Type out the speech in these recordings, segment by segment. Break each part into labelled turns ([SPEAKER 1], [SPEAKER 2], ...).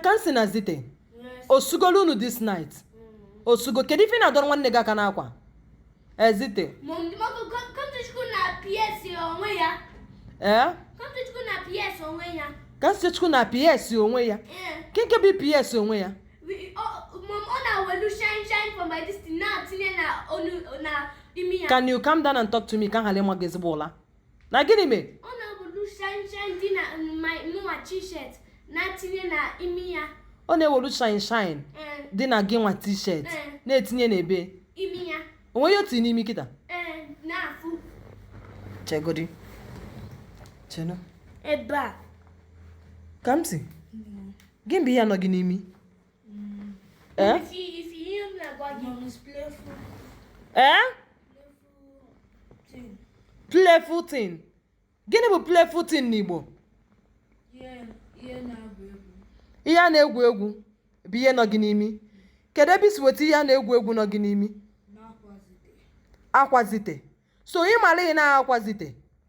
[SPEAKER 1] Kamsi na Zite osugolu unu this night osugo kedu ife ị na-adọrọ nwanne gị aka n'akwa Zite Kamsichukwu na PS onwe ya. ee Kamsichukwu na PS onwe ya. Kamsichukwu na ps onwe ya Ee. nke nke bụ ps onwe ya We- ọ- Mom, ọ na-ewelu shine shine for my destiny na-etinye na ọnụ na imi ya. can you calm down and talk to me ka m ghara ịma gị ezigbo ụla na gịnị mee ọ na-ewelu shine shine dị na mụnwa t-shirt na-etinye na imi ya ọ na-ewelu shine shine dị na gị nwa t-shirt na-etinye n'ebe imi ya onwe ya o tii n'imi kịta na-afụ chegodi chena ebe a Kamsi gịnị bụ ihe nọ gị n'imi ee playful thing gịnị bụ playful thing n'Igbo ihe a na-egwu egwu bụ ihe nọ gị n'imi kedu ebe i si weta ihe a na-egwu egwu nọ gị n'imi akwa Zite so ị mara ị na akwa Zite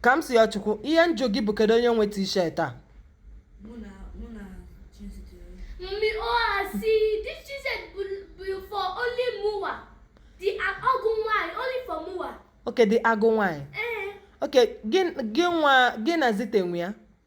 [SPEAKER 1] Kamsiyochukwu ihe m jụ gị bụ kedu onye nwe t-shirt a Mummy Oha, see, this t-shirt be for only mụa. The agụ nwanyị, only for mụa. Okay, the agụ nwanyị. Eh. Okay, gị nwa gị na Zite nwe ya.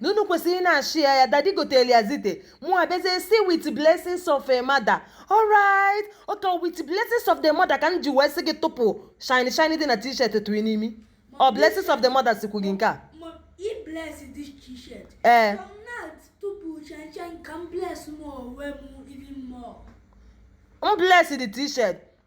[SPEAKER 1] na unu kwesịrị na-share ya dadi gotere ya Zite mụ abịazie si with blessings of a mother alright oke with blessings of the mother ka m ji wee sị gị tụpụ shiny shiny dị na t-shirt tii n'imi ọ blessings of the mother sikwu gị nke a Ma i bless this t-shirt. Eh. From now tụpụ shine shine ka m bless m onwe m even more. m bless the t-shirt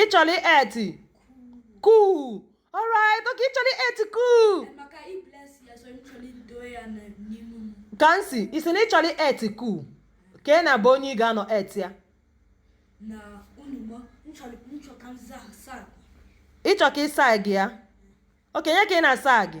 [SPEAKER 1] ị chọrọ eti kuu alright oke ị chọrọ eti kuu Kamsi ị si na ị chọrọ eti kuu ka ị na-abụ onye ị ga-anọ eti ya ị chọ ka ịsa gị ya okenye ka ị na-asa gị